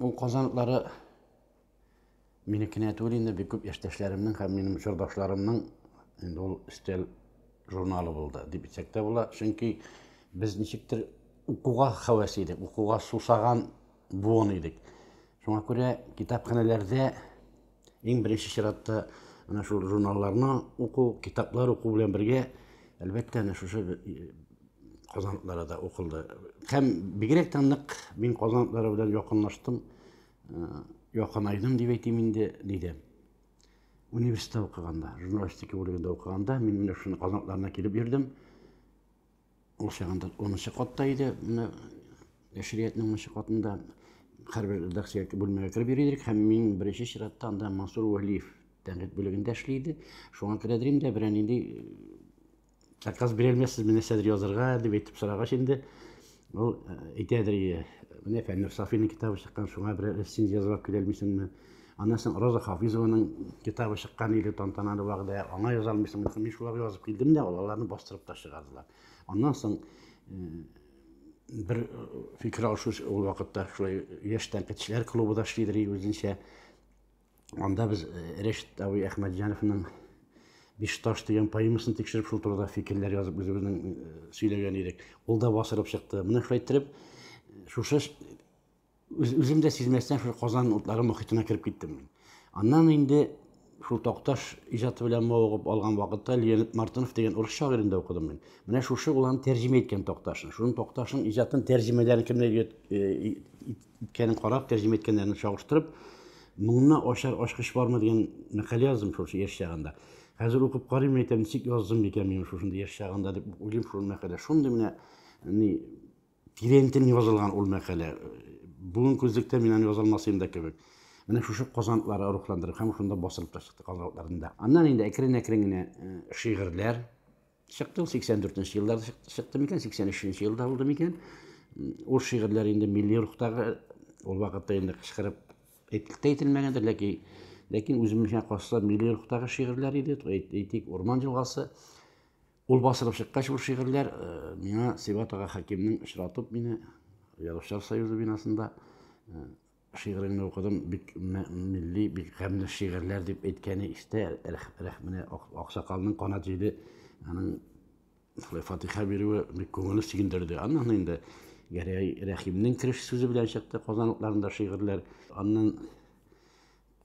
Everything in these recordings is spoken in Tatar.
Ул казаныклары минекенә түгел инде, бик күп яшьтәшләремнең һәм минем чордашларымның инде ул стель журналы булды дип әйтсәк тә була. Чөнки без ничектер укуга хәвәс идек, укуга сусаган буын идек. Шуңа күрә китапханәләрдә Иң беренче чиратта менә шул журналларны уку, китаплар уку белән бергә, әлбәттә, әнә шушы э, казанлыклары да укылды. Һәм бигрәк тә нык мин казанлыклары белән якынлаштым, э, якынайдым дип әйтим инде, диде. Университетта укыганда, журналистика бүлегендә укыганда, мин менә шуны казанлыкларына килеп йөрдем. Ул чагында унынчы катта иде, менә нәшриятның унынчы катында хәрбер редакция бүлмәгә кереп йөри идек һәм мин беренче чиратта анда Мансур Вәлиев тәнкыйть бүлегендә эшли иде. Шуңа күрә дә инде берәр нинди э, заказ бирә алмассызмы нәрсәдер язырга дип әйтеп сорагач инде ул э, әйтәдер, менә Фәннүр Сафиның китабы чыккан, шуңа берәр рецензия язып килә алмыйсыңмы? Аннан соң Роза Хафизованың китабы чыккан иде, тантаналы вәгъдә. Аңа яза алмыйсыңмы? Мин шуларга язып килдем дә, аларны бастырып та чыгардылар. Аннан соң бер фикер алышу ул вакытта шулай яшь тәнкыйтьчеләр клубы да эшлидер үзенчә. Анда без Рәшит абый Әхмәтҗановның биш таш дигән поэмасын тикшереп шул турыда фикерләр язып үзебезнең э, сөйләгән идек ул да басырып чыкты менә шулай иттереп шушы Үзем дә сизмәстән шул Казан утлары мохитенә кереп киттем мин. Аннан инде шул Такташ иҗаты белән мавыгып алган вакытта Леонид Мартынов дигән урыс шагыйрендә укыдым мин. Менә шушы ул аны тәрҗемә иткән Такташны. Шуның Такташның иҗатын тәрҗемәләрен кемнәр э, иткәнен карап, тәрҗемә иткәннәрен чагыштырып, моңны ачар ачкыч бармы дигән мәкалә яздым шул яшь чагында. Хәзер укып карыйм, әйтәм, ничек яздым микән мин шушындый яшь чагында дип уйлыйм шул мәкалә. Шундый менә ни Тирәнтен язылган ул мәкалә. Бүген күзлектә мин аны язалмасыйм да кебек. Менә шушы казантлары рухландырып һәм шунда басылып та чыкты казантларында. Аннан инде әкрен-әкрен генә э, шигырьләр чыкты. Ул 84 нче елларда чыкты микән, 83 нче елда булды микән? Ул шигырьләр инде милли рухтагы ул вакытта инде кычкырып әйтелеп тә әйтелмәгәндер, ләкин ләкин үземчә калса милли рухтагы шигырьләр иде, әйтик, Урман елгасы. Ул басылып чыккач, ул шигырьләр э, миңа Сибат ага Хәкимнең очратып мине Язучылар союзы бинасында э, шигыреңне укыдым, бик милли, бик гамьле шигырьләр дип әйткәне истә, рәхмәне аксакалның канат җиде, аның шулай фатиха бирүе бик күңелне сөендерде. Аннан инде Гәрәй Рәхимнең кереш сүзе белән чыкты Казанлыкларында шигырьләр. Аннан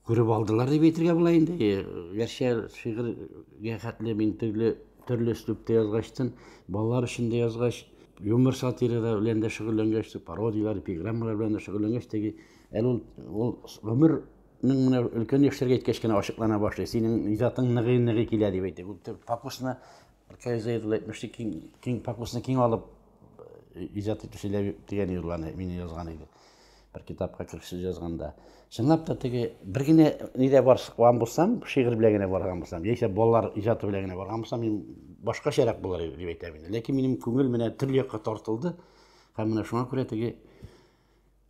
Күреп алдылар дип әйтергә була инде. Гәрчә шигырьгә хәтле мин төрле төрле өслүптә язгачтын, балалар өчен дә язгач, юмор сатирада белән дә шөгыльләнгәч, пародияләр, эпиграммалар белән дә шөгыльләнгәч, теге әле ул ул гомер Ның менә өлкән яшьләргә иткәч кенә ачыклана башлый. Синең иҗатың ныгый-ныгый килә дип әйтә. Фокусны Аркай Зәйд ул әйтмешли, киң, киң фокусны киң алып э, иҗат итүче дигән юлларны мин язган иде. Бер китапка кирши язганда. Чынлап та теге бер генә нидә барган булсам, шигырь белән генә барган булсам, яисә балалар иҗаты белән генә барган булсам, мин башкачарак булыр иде дип әйтәм инде. Ләкин минем күңел менә төрле якка тартылды. Һәм менә шуңа күрә теге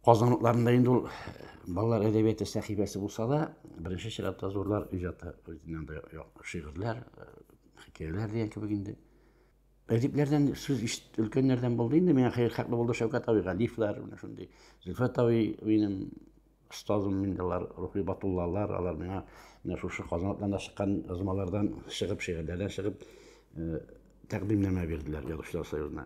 Казан утларында инде ул балалар әдәбияты сәхифәсе булса да, беренче чиратта зурлар иҗаты үзеннән дә шигырьләр, хикәяләр дигән кебек инде. Әдипләрдән сүз ишет өлкәннәрдән булды инде, миңа хәер хаклы булды Шәүкәт абый Галифлар, менә шундый. Зөлфәт абый минем остазым инде алар, Рухи Батуллалар, алар миңа менә шушы Казан утларында чыккан язмалардан чыгып, шигырьләрдән чыгып, тәкъдимнәмә бирделәр Язучылар союзына.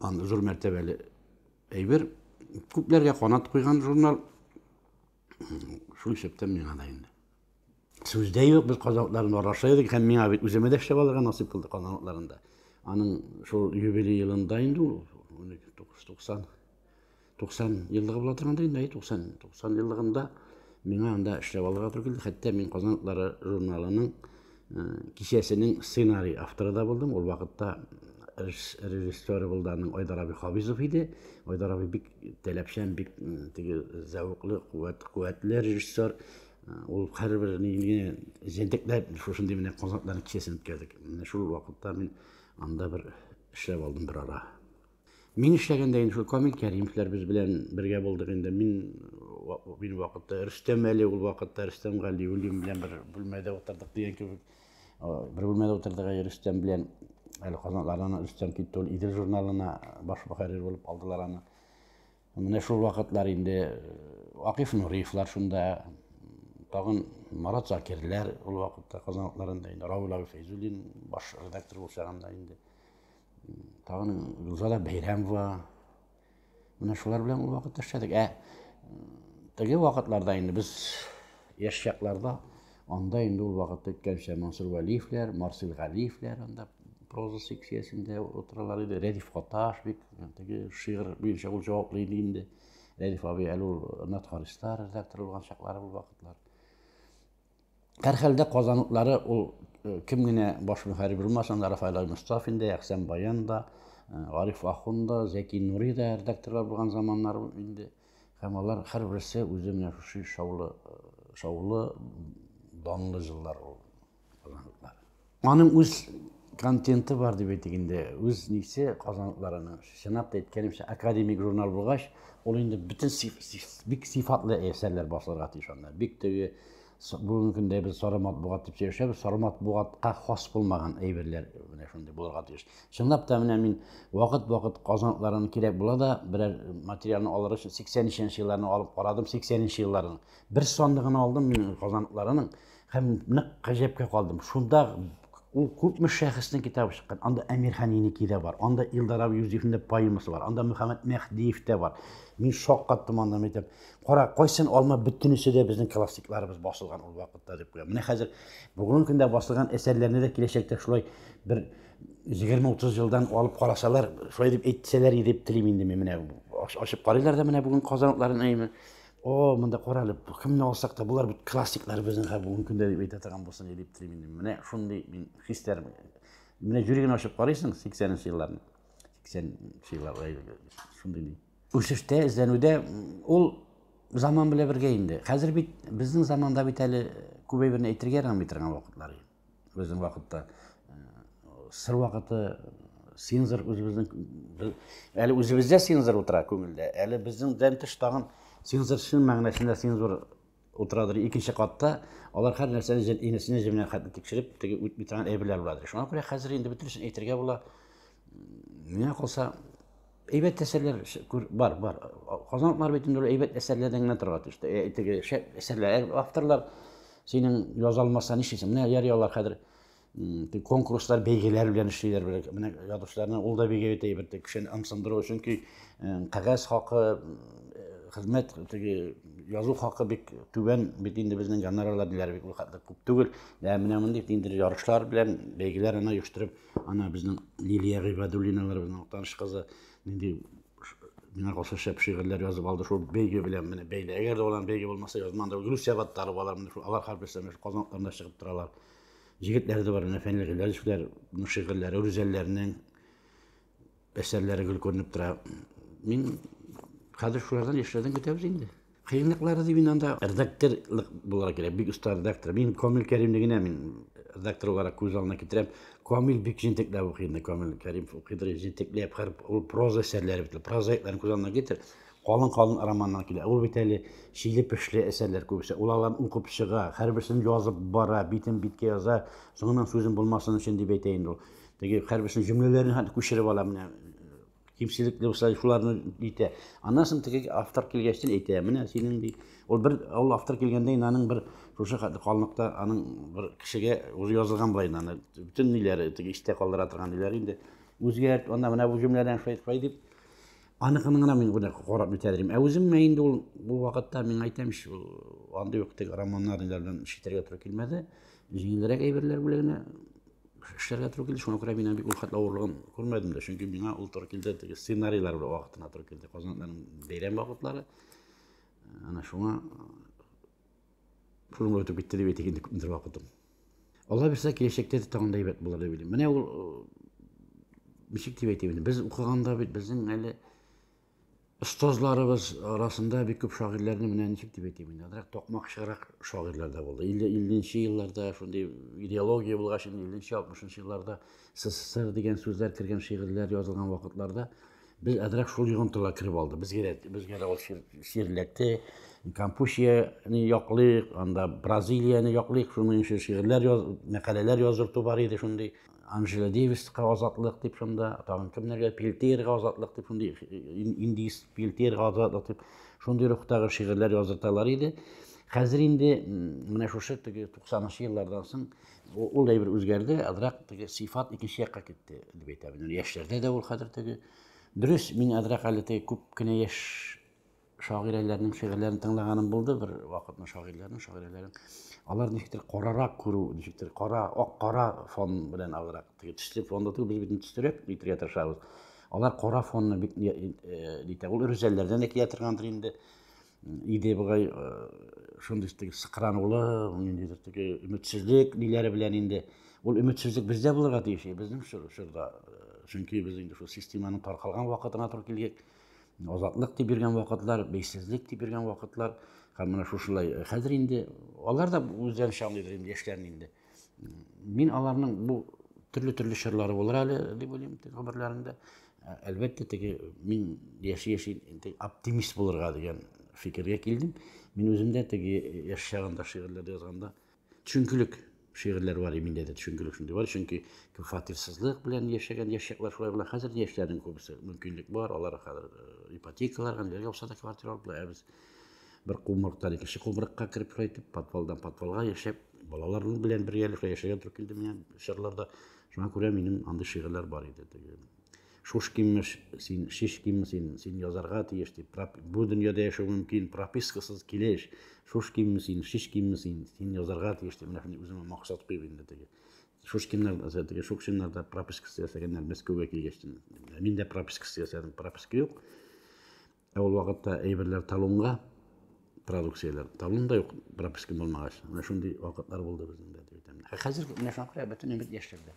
Ан зур мәртәбәле әйбер. Күпләргә канат куйган журнал. Шул исәптән миңа да инде. Сүз дә юк, без казанларны араша идек һәм миңа бит үземә дә эшләп алырга насыйп булды казанларында. Аның шул юбилей елында инде ул 1990 90 еллыгы була торганда инде, әй 90, 90 еллыгында миңа анда эшләп алырга туры килде. Хәтта мин Казан атлары журналының э, кичәсенең сценарий авторы да булдым. Ул вакытта режиссеры булды аның Айдар абый Хабизов иде. Айдар абый бик таләпчән, бик э, теге зәвыклы, куәт, куәтле режиссер. Э, ул һәрбер нигә җентекләп шушындый менә Казан атлары кичәсен үткәрдек. Менә шул вакытта мин анда бер эшләп алдым бер ара. Мин эшләгәндә инде шул Камил Кәримовлар без белән бергә булдык инде. Мин мин вакытта Рөстәм әле ул вакытта Рөстәм Галиуллин белән бер бүлмәдә утырдык дигән кебек. Бер бүлмәдә утырдык әле Рөстәм белән әле Казанлардан Рөстәм китте ул Идел журналына баш мөхәррир булып алдылар аны. Менә шул вакытлар инде э, Акиф Нуриевлар шунда, тагын Марат Закирләр ул вакытта Казанларында инде Рауль Фәйзуллин баш редактор булса инде. тагын рузада бәйрәм бар менә шулар белән ул вакытта эшләдек ә теге вакытларда инде без яшь чакларда анда инде ул вакытта әйткәнчә мансур вәлиевләр марсель галиевләр анда проза секциясендә утыралар иде рәдиф каташ бик теге шигырь буенча ул җаваплы иде инде рәдиф абый әле ул натхаристар редактор булган чаклары ул вакытлар Һәрхәлдә Казан утлары ул кем генә баш мөхәррир булмасын да, Рафаэль Аймостафин да, Әхсән Баян да, Гариф Ахун да, Зәки Нури да редакторлар булган заманнар ул инде. Һәм алар һәрберсе үзе менә шушы шаулы, шаулы, данлы җыллар ул. Аның үз контенты бар дип әйтик инде. Үз нисе казанлыларының. Чынлап та әйткәнемчә, академик журнал булгач, ул инде бөтен сиф, сиф, бик сифатлы әсәрләр басылырга тиеш анда. Бик теге бүгенге көндә без сары матбугат дип сөйләшәбез, сары матбугатка хас булмаган әйберләр менә шундый булырга тиеш. Чынлап та менә мин вакыт-вакыт казанлыларының кирәк була да берәр материалны алыр өчен 83 елларны алып карадым, 83 елларның бер санлыгын алдым мин казанлыларының Һәм нык гаҗәпкә калдым. Шунда ул күпме шәхеснең китабы чыккан. Анда Әмир Ханинеки дә бар, анда Илдар абый Юзефның да поэмасы бар, анда Мөхәммәд Мәһдиев тә бар. Мин шок каттым анда, мин әйтәм, кара, кайсын алма бөтенесе дә безнең классикларыбыз басылган ул вакытта дип куям. Менә хәзер бүгенге көндә басылган әсәрләрне дә киләчәктә шулай бер 20-30 елдан алып карасалар, шулай дип әйтсәләр дип телим инде мин менә ашып карыйлар да менә бүген казанлыларны әйме. О, монда карале, кемне алсак та, болар бит классиклар безнең һәр бүгенге көндә дип әйтә торган булсын дип телим инде. Менә шундый мин хисләр. Менә җөрегеңне ачып карыйсың 80-нче елларны. 80-нче еллар шундый. Үсештә, эзләнүдә ул заман белән бергә инде. Хәзер бит безнең заманда бит әле күбәй берне әйтергә ярамый торган вакытлар. Безнең вакытта сыр вакыты синзыр үзебезнең әле үзебездә синзыр утыра күңелдә әле безнеңдән тыш тагын синзыр чын мәгънәсендә синзыр утырадыр икенче катта алар һәр нәрсәне инесенә җеменә хәтле тикшереп теге үтми торган әйберләр буладыр шуңа күрә хәзер инде бөтенесен әйтергә була миңа калса Әйбәт әсәрләр бар, бар. Казанлылар бит инде әйбәт әсәрләрдән генә торган төштә. Ә теге әсәрләр, авторлар синең яза алмаса нишлисең? Менә ярый алар хәзер конкурслар, бәйгеләр белән эшлиләр белән. Менә язучыларны ул да бигә итә бит, кешене ымсындыру өчен ки кагаз хакы, хезмәт теге язу хакы бик түбән бит инде безнең гонорарлар диләр бик күп түгел. Менә мондый инде ярышлар белән бәйгеләр аны оештырып Ана безнең Лилия Гыйбадуллиналарыбызның Актаныш кызы нинди миңа калса шәп шигырьләр язып алды. Шул бәйге белән менә бәйле. Әгәр дә алар бәйге булмаса, язман да Гөлүс Сәбаттарова алар менә шул алар хәл белсәм, шул Казан атларында чыгып торалар. Җегетләре дә бар, менә Фәнил Гыйләҗевләр, шигырьләре, Рүзәлләрнең Әсәрләре гел күренеп тора. Мин хәзер шулардан яшьләрдән көтәбез инде. Кыенлыклары дип мин анда редакторлык булырга кирәк, бик оста редактор. Мин Камил Кәримне генә мин редактор буларак күз алдына китерәм. Камил бик җентекләп укый инде, Камил Кәрим укыдыр җентекләп, хәр ул проза әсәрләре бит, прозаикларны күз алдына китер. Калын-калын романнар килә. Ул бит әле чиле-пешле әсәрләр күбесе. Ул аларны укып чыга, һәрберсен язып бара, битен биткә яза, соңыннан сүзем булмасын өчен дип әйтә инде ул. Теге хәрбисенең җөмләләрен хәтта күчереп ала менә. Кимчелекле булса, шуларны әйтә. Аннан соң теге автор килгәчтен әйтә, менә синең ди. Ул бер ул автор килгәндә инде аның бер шушы калыныкта аның бер кешегә үзе язылган була инде аны. Бөтен ниләре теге истә калдыра торган ниләре инде. Үзгәрт, анда менә бу җөмләдән шулай шулай дип. Аныкының гына мин гына карап үтәдерим. Ә үзем мә инде ул бу вакытта мин әйтәм ич, андый ук теге романнар ниләр белән читергә туры килмәде. Җиңелрәк әйберләр бүлегенә эшләргә туры килде. Шуңа күрә мин бик ул хәтле авырлыгын күрмәдем дә. Чөнки миңа ул туры килде, теге сценарийлар белән вакытына туры килде. Казанның бәйрәм вакытлары. Ана шуңа шуның белән үтеп китте дип әйтик инде күпмедер вакытым. Алла бирсә, киләчәктә дә тагын да әйбәт булыр дип уйлыйм. Менә ул ничек дип әйтим инде, без укыганда бит безнең әле Остазларыбыз арасында бик күп шагыйрьләрне менә ничек дип әйтим инде, азрак токмакчырак шагыйрьләр дә булды. 50-нче елларда шундый идеология булгач, 50-нче, 60-нчы елларда СССР дигән сүзләр кергән шигырьләр язылган вакытларда без азрак шул йогынтыга кереп алды. Безгә дә безгә дә ул ширләтте. Кампусияне яклыйк, анда Бразилияне яклыйк, шуның өчен шигырьләр яз, мәкаләләр яздырту бар иде шундый. Анжела Дэвиска азатлык дип шунда, тагын кемнәргә Пелтиерга азатлык дип шундый индийс Пелтиерга азатлык дип шундый рухтагы шигырьләр яздырталар иде. Хәзер инде менә шушы теге 90-нчы еллардан соң ул әйбер үзгәрде, азрак теге сыйфат икенче якка китте дип әйтәм. Яшьләрдә дә ул хәзер теге дөрес, мин азрак әле теге күп кенә яшь шагыйрәләрнең шигырьләрен тыңлаганым булды бер вакытны шагыйрьләрнең шагыйрәләрен алар ничектер карарак күрү ничектер кара ак кара фон белән алырак теге төсле фонда түгел без бит төстерәк итәргә тырышабыз алар кара фонны бик нитә ул рүзәлләрдән дә килә торгандыр инде иде бугай шундый теге сыкранулы ниндидер теге өметсезлек ниләре белән инде ул өметсезлек бездә булырга тиеш безнең чорда чөнки без инде шул системаның таркалган вакытына туры килгән азатлык дип йөргән вакытлар, бейсезлек дип йөргән вакытлар, һәм менә шушылай э, хәзер инде алар да үзләрен чамлыйлар инде яшьләрне инде. Мин аларның бу төрле-төрле чорлары булыр әле дип уйлыйм теге гомерләрендә. Ә, әлбәттә, теге мин яши-яши оптимист булырга дигән фикергә килдем. Мин үзем дә теге яшь чагында шигырьләр язганда төшенкелек шигырьләр бар миндә дә төшенкелек шундый бар чөнки фатирсызлык белән яшәгән яшьчәкләр шулай була хәзер яшьләрнең күбесе мөмкинлек бар алар хәзер э, ипотекаларга ниләргә булса да квартира алып ә без бер кумырыктан икенче кумырыкка кереп кайтып подвалдан подвалга яшәп балалар белән бергәләшә яшәгән туры килде миңа чорларда шуңа күрә минем андый шигырьләр бар иде теге Шушкинмеш, син, шишкинме син, син язарга тиеш дип, бу дөньяда яшәү мөмкин, пропискасыз килеш, шушкинме син, шишкинме син, син язарга тиеш дип, менә шундый үземә максат куеп инде теге шушкиннар теге шукшиннарда пропискасы ясәгәннәр мәскәүгә килгәч мин дә пропискасы ясадым прописка юк ә ул вакытта әйберләр талонга продукцияләр талон да юк прописка булмагач менә шундый вакытлар булды безнең дә хәзер менә шуңа күрә бөтен өмет яшьләрдә